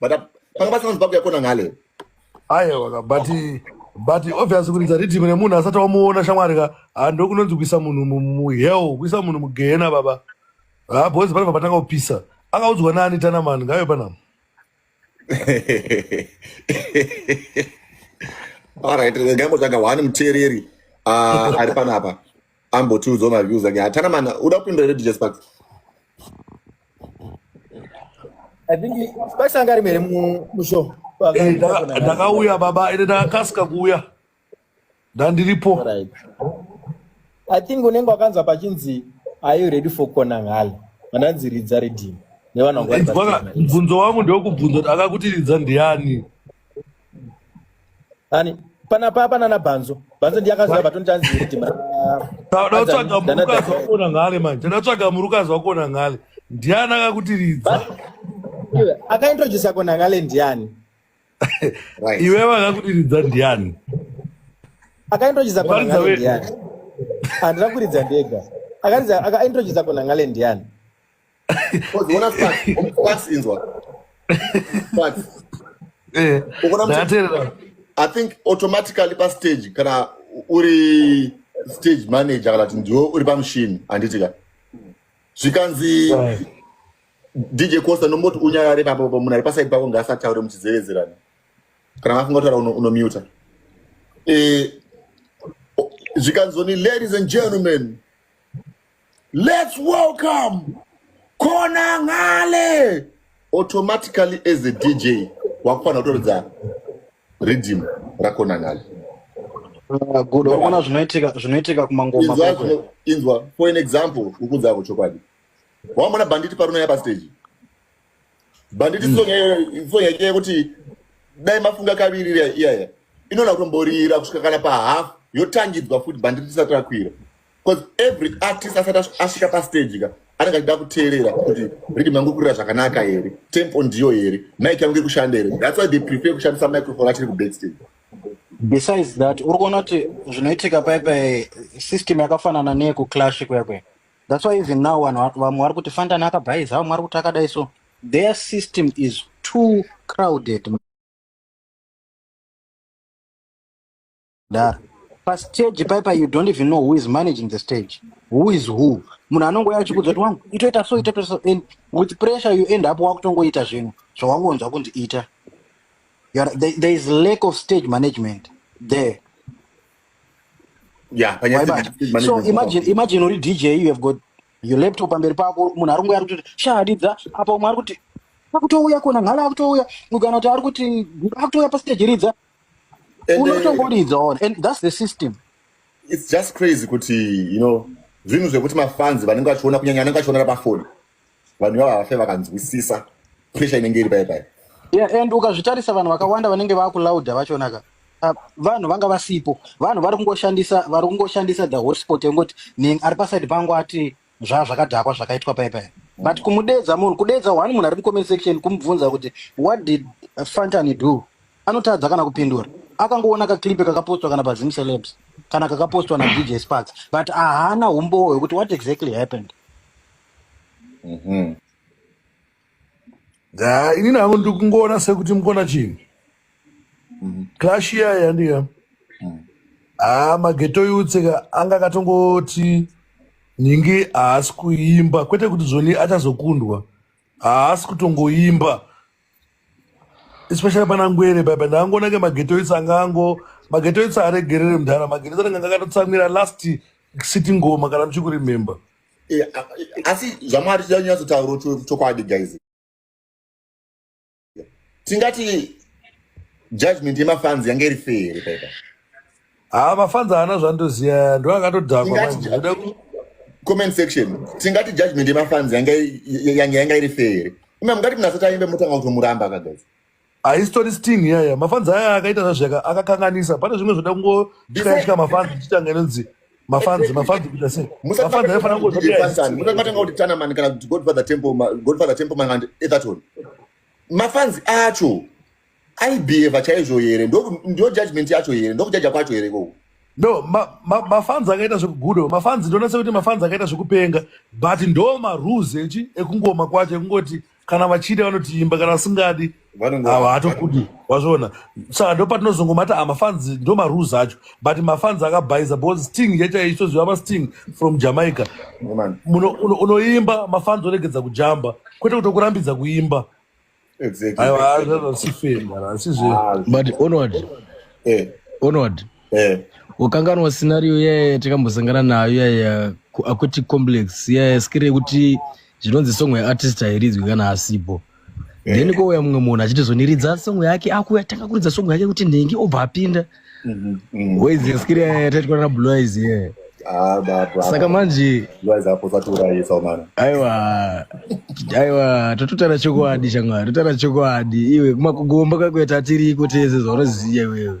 but uh, panga pasina nzibako yakona ngale ayewa but but obvious kuti dzaritimu nemunhu asati wamuona shamwari ka hando kunonzi kuisa munhu muheo kuisa munhu mugehena baba ha boys panobva patanga kupisa akaudzwa nani tanamani ngayo panama alright ngambotsvaga one muteereri ah, ari panapa ambotiudzawo maviews ake hatana mana uda kupindura here dj sparks I think Spice anga ari mere mu- mushow Eh, ndaka- ndakauya baba ende ndakakasika kuuya ndandiripo Alright. I think unenge wakanzwa pachinzi are you ready for kona ngale vananzi ridza ridhini nevana vangu vari Bwana, pachena. mubvunzo wangu ndewekubvunza kuti akakutiridza ndiani Ani pana papa nana Banzo. Banzo ndiye akaziva baton tanzi kuti ma. Ndatsvaga murukazi wako na ngale manje. Ndatsvaga murukazi wako na ngale. Ndiani akakutiridza? Akaintroduce yako na ngale ndiani? Iwe vakakutiridza ndiani? Akaintroduce yako na ngale ndiani? Andira kuridza ndega. Akaridza akaintroduce yako na ngale ndiani? ukaona facts inzwa facts eh ndaterera i think automatically pa stage kana uri stage manager kana kuti ndiwe uri pamushini handiti ka zvikanzi dj costa nomboti unyarare papo munhu ari pasaidi pako ngaasataure muchizevezerana kana mafunga kutaura unomuta eh, zvikanzoni ladies and gentlemen Let's welcome Kona Ngale. Automatically as a DJ, wakufana kutoridza rhythm raKona Ngale. Uh, good. Unaona zvinoitika zvinoitika kumangoma kwekwe. Inzwa for an example ukudza kuchokwadi. Wamona banditi parunaya pa stage. banditi song mm. song yake yekuti dai mafunga kaviri iya iya inona kutomborira kusvika kana pa half yotangidzwa futi banditi tisati rakwira because every artist asati asvika pa stage ka anenge achida kuteerera kuti rhythm yangu kurira zvakanaka here tempo ndiyo here mic yangu iri kushanda here that's why they prefer kushandisa microphone achiri ku backstage besides that uri kuona kuti zvinoitika paipai system yakafanana neyekuclash kuyakwe That's why even now vanhu vamwe vari kuti Fantani akabhaiza vamwe vari kuti akadai so their system is too crowded mudhara pastage paipa you don't even know who is managing the stage who is who munhu anongouya achikudza kuti wangu itoita so itoita so and with pressure you end up wakutongoita zvinhu zvawangonzwa kunzi ita there is lack of stage management there yeah panyaya Waiba. dze- so management imagine imagine uri dj you have got your laptop pamberi pako munhu ari kungoya kuti shadidza apa umwe ari kuti akutouya kona ngala akutouya mugana kuti ari kuti akutouya pastage ridza and uh, unotongoridza ona and that's the system it's just crazy kuti you know zvinhu zvekuti mafans vanenge vachiona kunyanya vanenge vachiona pafoni vanhu ivava havafe vakanzwisisa pressure inenge iri paye paye yeah, and ukazvitarisa vanhu vakawanda vanenge vakulauda vachonaka ah, vanhu vanga vasipo vanhu vari kungoshandisa vari kungoshandisa the hotspot yekungoti ning ari paside pangu ati zva zvakadhakwa zvakaitwa paye paye but kumudedza munhu kudedza one munhu ari mucomment section kumubvunza kuti what did fantany do anotadza kana kupindura akangoona kaklipe kakapostwa kana pazim celebs kana kakapostwa nadj sparks but ahana umbowo hwekuti what exactly happened Mhm. Ah, ini nangu ndikungoona sekuti mukona chinhu Mhm. clash iya yandika Mhm. ah mageto yutseka anga akatongoti nhingi haasi kuimba kwete kuti zvoni achazokundwa haasi kutongoimba especially pana ngwere baba ndakangoona ke mageto yuts anga ango mageto yuts haaregerere mudhara mageto yuts anenge akatotsamwira last sitting ngoma kana muchikuremember eh, asi zvamwari tichanyatsotauro chokwadi guys tingati judgment yemafanzi yange iri fee here paipa haa ah, mafanzi haana zvandoziya ndo akatodhakwa comment section tingati judgment yemafanzi yange yanga iri fee here ima mungati mnasataimbe motanga kutomuramba akagazi haisitori sting yaya mafanzi aya akaita zvazvo akakanganisa pane zvimwe zvoda kungotyayashika mafanzi tichitanga inonzi mafanzi mafanzi kuita sei mafanzi aifanira kungoatanga kuti tanamani kana kuti godfather temple godfather temple man and etherton mafanzi acho aibheheva chaizvo here ndo judgment yacho here ndokujaja kwacho here ikoko no mafanzi ma, ma akaita zvekugudo mafanzi ndonase kuti mafanzi akaita zvekupenga but ndo marules echi ekungoma kwacho ekungoti kana vachida vanotiimba kana vasingadi havatokudi wazviona saka ndo patinozongomata ah, mafanzi ndo marus acho but mafanzi akabhaiza because sting yachaisoziva masting from jamaica unoimba mafanzi oregedza kujamba kwete kutokurambidza kuimba aiwa hazvazvasifenga asizve but onward eh. onward eh. ukanganwa scenario yaye takambosangana nayo yaya akuti complex yaya skiri yekuti zvinonzi song yeartist hairidzwi kana asipo eh. then kouya mumwe munhu achitizoniridza song yake akuya tanga kuridza song yake kuti nhengi obva apinda mhm, mhm. waizi skiri yaya taitwa nablois yaya ah, saka manje aiwa aiwa tototara chokwadi shamwari totara chokwadi iwe kumakugomba kwakuya tatiriko tese zvaunoziva iwewe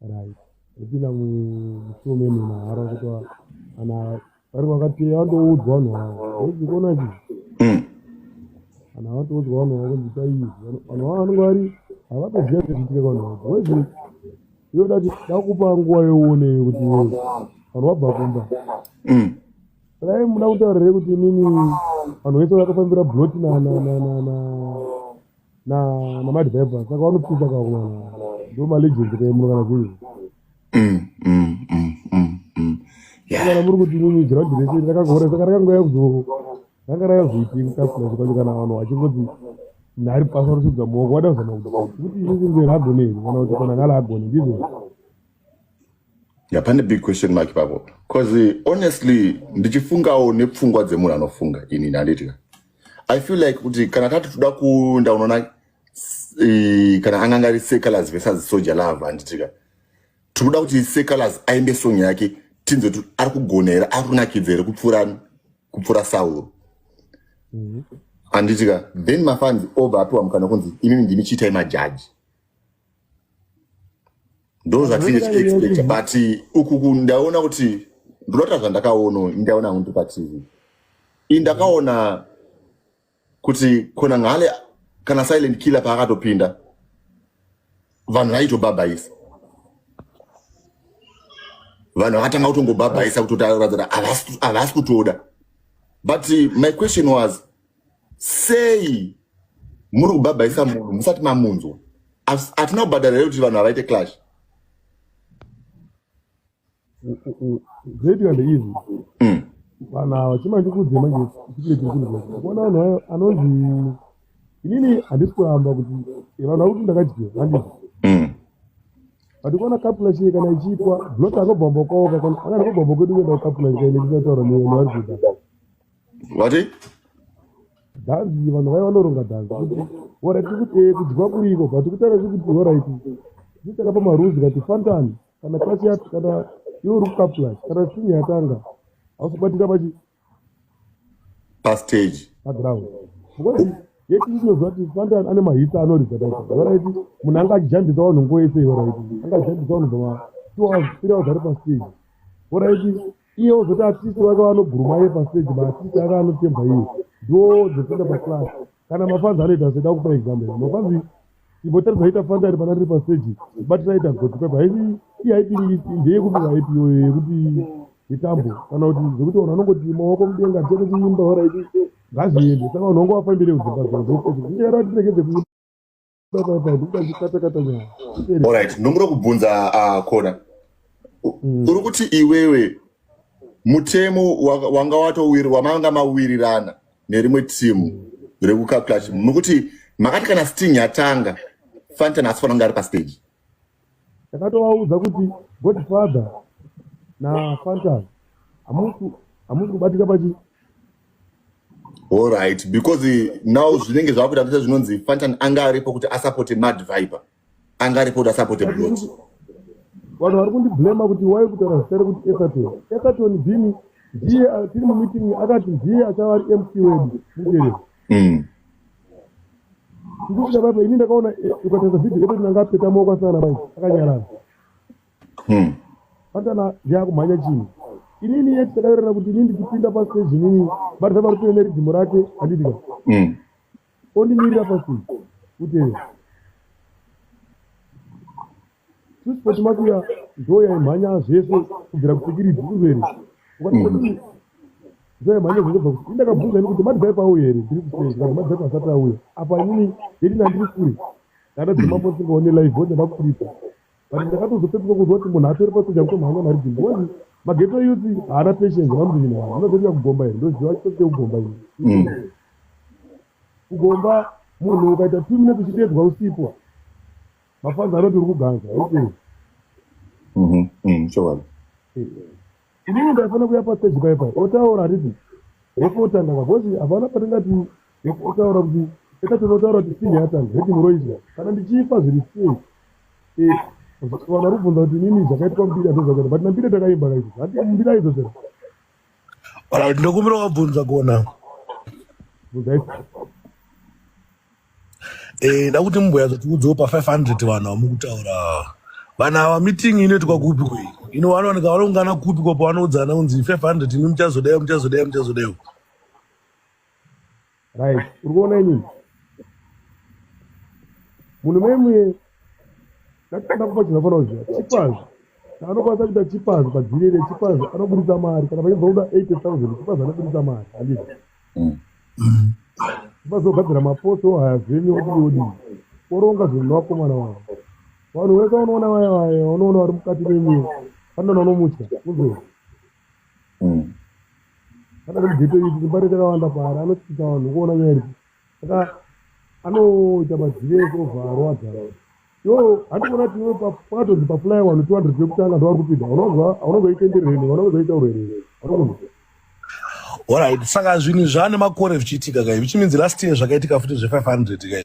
right kupinda mushume munharo kuti kana vari vakateya vatoudzwa vanhu vavo zikuona chi mm. kana vatoudzwa vanhu vavo kuti chaizi vanhu vavo vanenge vari havatoziva zviitike vanhu vavo wezi iyo dati dakupa nguva yeuone kuti vanhu vabva kumba mm. dai muda kutaurire kuti inini vanhu vese vakafambira bloti na na namadriver saka vanopinda kakumana ndo malegend kaimuno kana zvii mm, mm, mm, kana muri kuti nini ground rese rakangore saka rakangouya kuzo ranga rakazoiti kukasira zvikanzi kana vanhu vachingoti nhari pasi vanosudza muoko wada kuzama kuda kuti isisi ngwe ragone iri kana kuti kana ngala agone ndizvo yapane big question mark ipapo bcause honestly ndichifungawo nepfungwa dzemunhu anofunga ini ndanditika i feel like kuti kana tati toda kuenda unoona eh, kana anganga ari secalas versus soja love handitika tiri kuda kuti secalas aimbe song yake tinzwe kuti ari kugona here ari kunakidza here kupfuura kupfuura sauro mm-hmm. handitika then mafans obva apiwa mukana kunzi imimi ndimi chiitai majaji ndo zvatinge tichiexpecta but uku ndaona kuti ndinoita zvandakaona indaona kunti patv ii ndakaona kuti kona ngale kana silent killer paakatopinda vanhu vaitobhabhaisa vanhu vakatanga kutongobhabhaisa kutotaratira havasi kutoda but my question was sei muri kubhabhaisa munhu musati mamunzwa As- hatina kubhadhara here kuti vanhu havaite clash Great and easy. mm. Vanhu ava chima ndikuudze manje chikule chiri kunzwa. Kuona vanhu ava anonzi inini handisi kuramba kuti eh, vanhu vari kuti ndakadyiwa handisi. Mm. But kuona kapula chiye kana ichiitwa dzinoti akabvambokaoka kana akabvambokedu kuenda kukapula nyika ine tichataura nevanhu vari kuita. vati dhanzi vanhu vaiva vanoronga dhanzi orati kuti eh, kudyiwa kuriko but kutaura zvekuti oraiti zvichaka pamaruzi kati fantani kana kasiat kana iwe uri kukaplas kana sini yatanga hausabatika pachi pastage paground because yeti inoziva kuti fantani ane mahitsa anoridza oraiti munhu anga achijambisa vanhu nguva yese oraiti anga achijambisa vanhu bva two hours three hours ari pastage oraiti iye ozoti atisi vake vanoguruma iye paseji maatisi ake anotemba iye ndo dzekunda paclass kana mafanzi anoita seda kupa exam ya mafanzi imbotaridza aita fanzi ari pana riri paseji batira aita goti pepa haisi iye haiti ndeyekupira ipi yoyo yekuti itambo kana kuti zvekuti vanhu vanongoti maoko mudenga tete kuimba horaiti ngaziende saka vanhu vangu vafambire kudzimba zvao zvokuti zvichera tiregedze kuimba Alright, ndomuda kubvunza uh, Kona. Mm. Uri kuti iwewe mutemo wanga watowiri wamanga mawirirana nerimwe timu rekucalculation mukuti makati kana sting yatanga fantan asifanonga ari pastage takatovaudza kuti godfather nafantas hamusi kubatika pachi allright because now zvinenge zvakuita tese zvinonzi fantan anga aripo kuti asapote mad viper anga aripo kuti asapote blot vanhu vari kundiblema kuti wai kutaura zitare kuti esaton esaton bini ndiye tiri mumeeting akati ndiye achava ari mc wedu muteereri hmm. ndikuita baba ini ndakaona eh, ukatanga video yedu tinanga apeta maoko asana bai akanyarara hmm. atana yakumhanya chinhu inini yeti takaerera kuti ini ndichipinda pastage inini but zava ripine neridhimu rake handitika hmm. ondimirira pastage utee Transport makuya ndoya imhanya zvese kubvira kusikiridzi kuzeri. Ndoya imhanya zvese kubva kusikiridzi. Ndakabvunza ini kuti madzai pauyo here ndiri kuseri kana madzai kwasati auya. Apa inini yeti nandiri kure. Ndada dzima mbo singaone live voda vakurisa. But ndakatozopepuka kuzwa kuti munhu atori pasoja kutomhanya mari dzimbo. Wani mageto yuti haana patience vamudini vanhu. Vanozoita kugomba here ndoziva chitote kugomba ini. Mm. Kugomba munhu ukaita two minutes uchitedzwa usipo. Mafanzi anoti uri kuganza. Okay. Mhm. Mhm. Sure. Ini ndafana kuya pa stage pai pai. Otaura riti. Rekotanga kakozi havana patingati otaura kuti eka tinotaura kuti sinhi yatanga heti muroizwa kana ndichifa zviri sei eh, vana rubvunza kuti nini zvakaitwa mbiri azozvakati but nambiri takaimba kaizvo hati mbiri aizozvera ndokumbira wabvunza kuona eh, da kuti mumboya zatiudzewo pa 500 vanhu vamukutaura vanhu ava meeting inoitwa kupi kwei ino vanowanika vanoungana kupi kwa pavanoudzana kunzi 500 imi muchazodaiwo muchazodaiwo muchazodaiwo right uri kuona inini munhu memwe ndakupa chinhu afana kuziva chipazi anokwanisa kuita chipazi padziri ine chipazi anoburitsa mari kana pachinzwa kuda eighty thousand chipazi anoburitsa mari andii mm. chipazi ogadzira mapoto haya zvenyu odii odii oronga zvinhu nevakomana vavo vanhu wese unoona vaya vaya unoona vari mukati memwe vanoona unomutya kuzoi mm. kana kuti geto iri kumba rete kawanda paari anotyisa vanhu kuona nyaya iri saka anoita mazive ekovharo adhara yo handikuona kuti iwe pakatonzi papulai wanu two hundred yekutanga ndovari kupinda aunozoitenderere nei aunozoitaurere nei aunokuziva orit saka zvinhu zvaane makore zvichiitika kai zvichiminzi last year zvakaitika futi zve 500 kai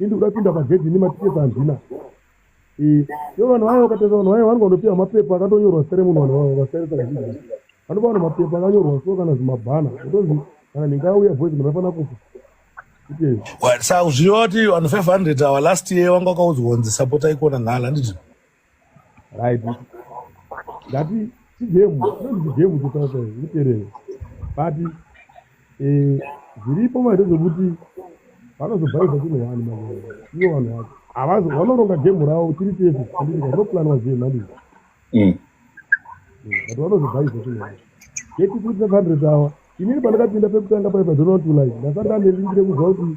indi kuda kupinda pagedhi ini matiketi handina yo vanhu vaye vakatarisa vanhu vaye vanenge vanopiwa mapepa akatonyorwa sere munhu vanhu vaye vakatarisa kazhinji vanopa vanhu mapepa akanyorwa so kana zvimabhana kutonzi kana nhinga auya voice munhu afana kufa sa zviyo vati vanhu 500 awa last year wanga wakaudzwa kunzi sapotai kuona ngala handiti right ngati chigemu chinonzi chigemu chotaura kuterere but eh, zviripo maite zvekuti vanozobhaidza chino wani maii ivo vanhu vacho havazo vanoronga gemu ravo tiri tese andiika zvinoplanwa zviye mhandii mm. mm, but vanozobhaidza chino wani yekuti kuti hundred awa inini pandakapinda pekutanga paipazonoti like ndasati andelingire kuziva kuti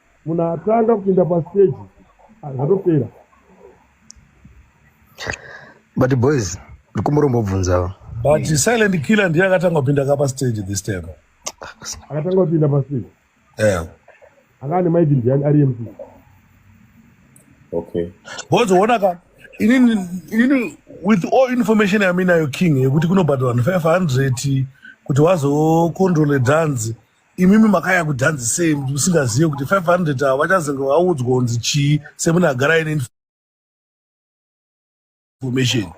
munhu atanga kupinda pastage zvatopera but boys ndikumurombobvunzawo but silent killer ndiye akatanga kupinda ka pastage this time akatanga kupinda pastage yeah. akane maiki ndiani ari mc okay boys uona ka inini inini with all information yaminayo king yekuti kunobhadharwa 500 kuti wazocontrole dhanzi imimi makaya kudhanzi sei musingazive kuti 500 ava vachazenge vaudzwa kunzi chii semunhu agara aine information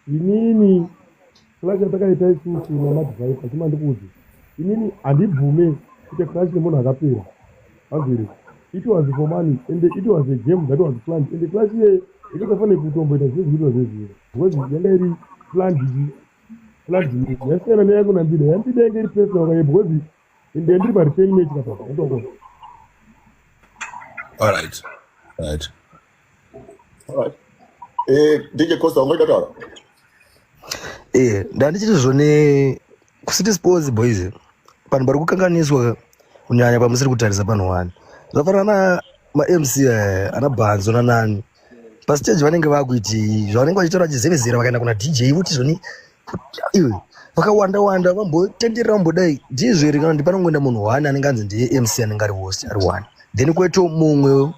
inini clash yatakaita isusu namadvice achima ndikuudze inini handibvume kuita clash nemunhu akapera hazviri it was for money and it was a game that was planned and clash iye ikatafanire kutomboita zvinhu zvinoitwa zvezviro because yanga iri planned vladimir yasiyana neyangu nandida yandida yange iri pesi nakaye because ndendiri paretain mate kapapa ndoko alright right alright eh dj costa ungaita taura eh ndandichiti zvone kusiti sports boys vanhu vari kukanganiswa kunyanya pamusiri kutarisa panhu wani zvafanana na mamc eh, ana bhanzo nanani pastage vanenge vakuiti zvavanenge vachitaura vachizevezera vakaenda kuna dj voti zvoni iwe vakawanda wanda vambotenderera vambodai ndizvo here kana kuti panongoenda munhu one anenge anzi ndiye mc anenge ari host ari one then kweto mumwe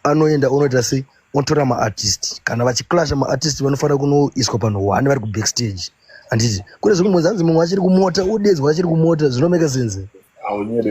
anoenda unoita sei otora maartist kana vachiclasha maartist vanofanira kunoiswa panhu one vari kubackstage handiti kune zvimwe mwenzi anzi mumwe achiri kumota udedzwa achiri kumota zvinomeka sense